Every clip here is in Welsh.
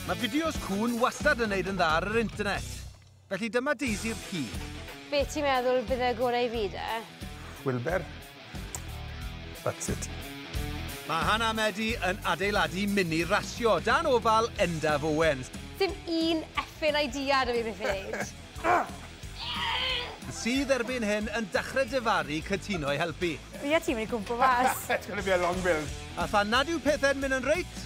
Mae fideos cŵn wastad yn neud yn dda ar yr internet. Felly dyma Daisy'r ci. Be ti'n meddwl bydd y gorau i fi de? Wilber. That's it. Mae Hannah a Medi yn adeiladu mini rasio dan ofal Endaf Owens. Dim un effin idea da fi beth i wneud. sydd erbyn hyn yn dachre dyfaru cytuno i helpu. Fi a ti wedi gwmpo mas. It's going to be a long build. A phan nad yw pethau'n mynd yn reit,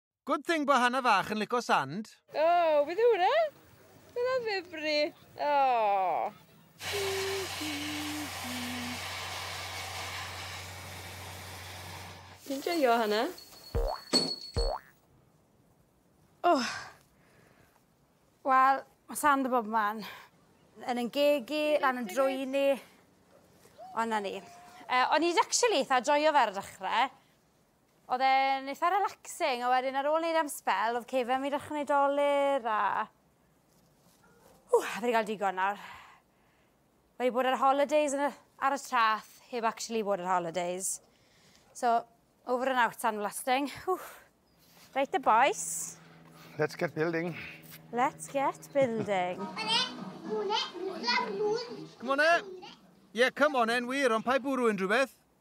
Good thing bo Hana fach yn lico sand. Oh, beth yw hwnna? Beth yw fibri? Oh. Ti'n joio hana? Oh. Wel, mae sand y bob man. Yn yn gegi, lan yn drwy ni. Ond na ni. Uh, o'n i'n actually eitha joio fe ar y dechrau. Oedd e'n eitha relaxing a wedyn ar ôl neud e am sbel oedd cefen fi'n dechre neud dolur a... Ww, fi 'di ga'l digon nawr. Wedi bod ar holidays yn y... ar y trath heb actually bod ar holidays. So, over and out sandblasting. Ww. Reit the boys. Let's get building. Let's get building. Come on e! Ie, come on e'n wir, ond pa i bwrw unrhyw beth?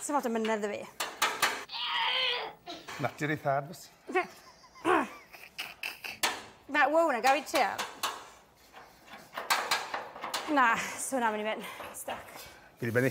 Sa fod yn mynedd da fi. Natur ei thad, bys. Na, wow, na, gael i trio. Na, so na, mynd i mynd. Stuck. Gyd i benni.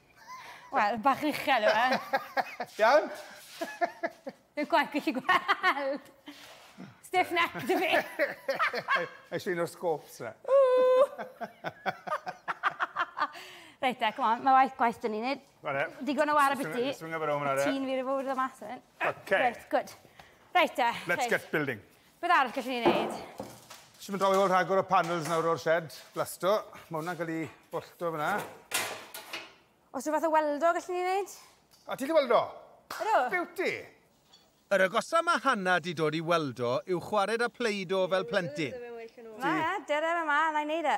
Wel, bach uchel yw e. Iawn? Dwi'n gwaith gallu gweld. Stiff neck dy fi. Eis un o'r scopes na. Reit e, come on, mae waith gwaith dyn ni'n neud. Digon o war a biti. Ti'n fi rwy'n fawr dda mas yn hyn. OK. Reit, good. Reit e. Let's get building. Beth arall gallwn ni wneud? Jyst mynd draw i weld rhagor o panels nawr o'r shed, blasto. Mae hwnna'n cael ei bollto fyna. Os rhywbeth o weldo gallwn ni wneud? A ti'n gallu weldo? Ydw. Beauty! Yr agosa mae Hannah di dod i weldo yw chwared â Play-Doh fel plentyn. Na, dere fe ma, na i wneud e.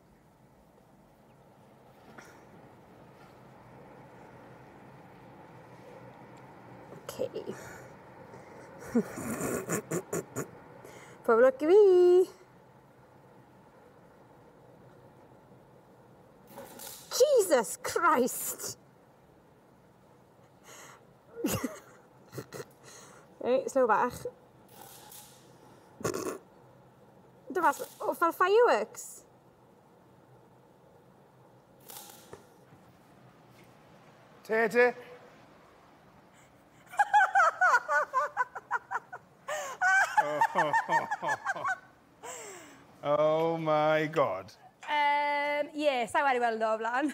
Okay. Pob lwc i fi! Jesus Christ! Reit, slow bach. Dyma, o, oh, fel fireworks. Te, te. oh my god. Um, yeah, sa'n wedi weld o flan.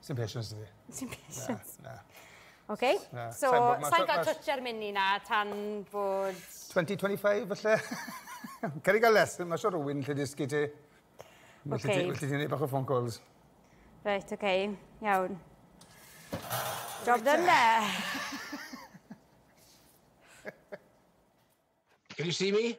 Sdim patience da fi. Sdim patience? Na, na. OK, so sa'n gael twtch ar mini na tan bod... 2025 falle? Ceri gael lesson, mae sio rhywun lle dysgu ti. OK. Felly ti'n ei bach o phone calls. Reit, OK, iawn. Job done da. Can you see me?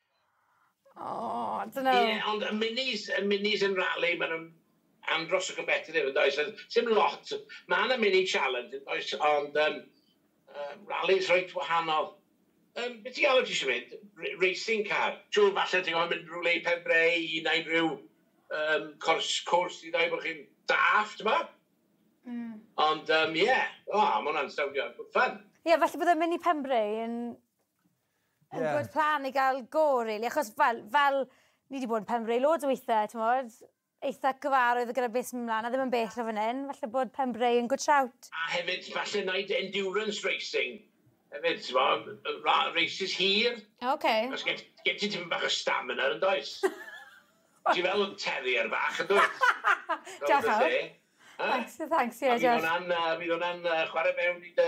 Oh, I don't know. Ie, ond y minis, y minis yn rali, maen nhw'n andros o competitive yn does? Ond sim lot. Mae yna mini challenge yn does, ond um, uh, rallies reit wahanol. Um, beth ti'n galw ti eisiau mynd? R racing car? Siwr falle ti'n gofyn mynd rhywle i Penbreu i wneud rhyw um, cwrs, cwrs i ddau bod chi'n daff, ti'n ma? Mm. Ond, um, ie, yeah. o, oh, mae hwnna'n sowndio good fun. Ie, yeah, felly byddai mynd i Penbreu yn Ie. Yn gwbod plan i gael go rili achos fel fel ni 'di bod yn Pembre loads o withe t'mod eitha cyfarwydd gyda beth sy'n myn' mlan a ddim yn bell o fan 'yn falle bod Pembre yn good shout. A hefyd falle neud endurance racing hefyd t'mo' yy ra- races hir. O oce. Achos gen t- gen ti tipyn bach o stamina yndoes? Ti fel terrier fach yndwyt? Diolch y lle. Yy. Thanks thanks ie diolch. A fydd wnna'n yy fydd wnna'n yy chware mewn i dy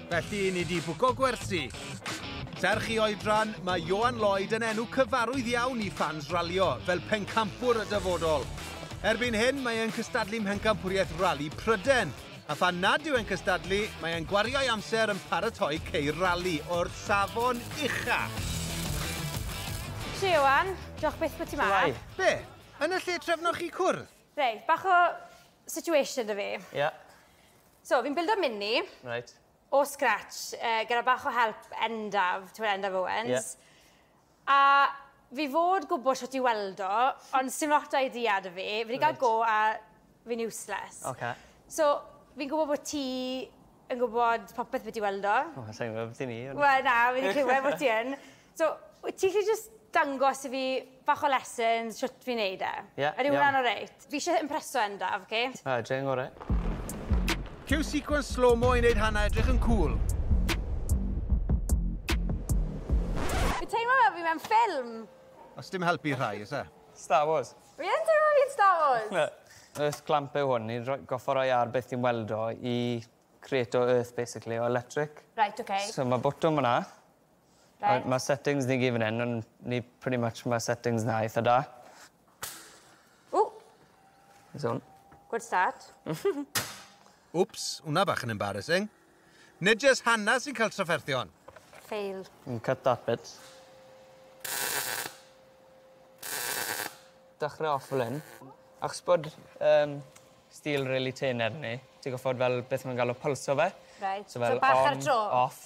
Felly, ni di bwco gwersi. Serch i oedran, mae Johan Lloyd yn enw cyfarwydd iawn i ffans ralio, fel pencampwr y dyfodol. Erbyn hyn, mae e'n cystadlu mhencampwriaeth rali Pryden, a phan nad yw e'n cystadlu, mae e'n gwario'i amser yn paratoi ceir rali o'r safon ucha. Shwe, Johan. Diolch byth bod ti ma. Shwmae. Be? Yn y lle trefnoch chi cwrdd? Reit, bach o situation 'da fi. Ie. So, fi'n bildo mini. Reit. O scratch, yy, gyda bach o help Endaf, ti'n gwybod Endaf Owens. Yeah. A fi fod gwybod sut i weld o, ond sy'n lot o'i idea da fi. Fi wedi cael go a fi'n useless. Okay. So, fi'n gwybod bod ti yn gwybod popeth beth i weld o. O, sa'n gwybod beth i ni. Wel, na, fi wedi clywed bod ti yn. So, wyt ti 'llu jyst dangos i fi bach o lessons shwt fi'n neud e? Ie, iawn. Ydi hwnna'n oreit? Fi isie impreso Endaf, oce? A, dre yn gore. Cue sequence slow-mo i neud hanna edrych yn cŵl. Fi teimlo fel fi mewn ffilm. Os dim help i rhai, o's e? Star Wars. Fi yn teimlo fi'n Star Wars! Earth clamp yw hwn, ni'n rhoi... goffa roi ar beth ti'n weld o i creato earth basically, o electric. Reit, oce. So ma botwm fana, Reit. Ma' settings ni gyd fan 'yn on' ni pretty much ma' settings 'na eitha da. Ww! Beth yw 'wn? Good start. Wps, wnna bach yn embarrassing. Nid jyst Hannah sy'n cael trafferthion. Fail. Mm cut that bit. Dechre off fel 'yn. Achos bod yym steel rili tynn arni ti goffod fel beth ma' nw'n galw pylso fe. Reit. So fel on off. So bach ar y tro? Off.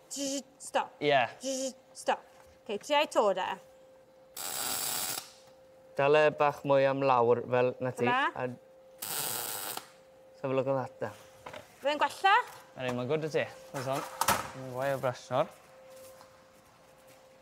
Stop. Ie. Stop. Ok, tria i to de. Dal e bach mwy am lawr fel na ti. Dyna. A... Let's have a look at that then. Fe'n gwella? Ydy, mae'n gwrdd y ti. Mae'n son. Mae'n gwael brasnor.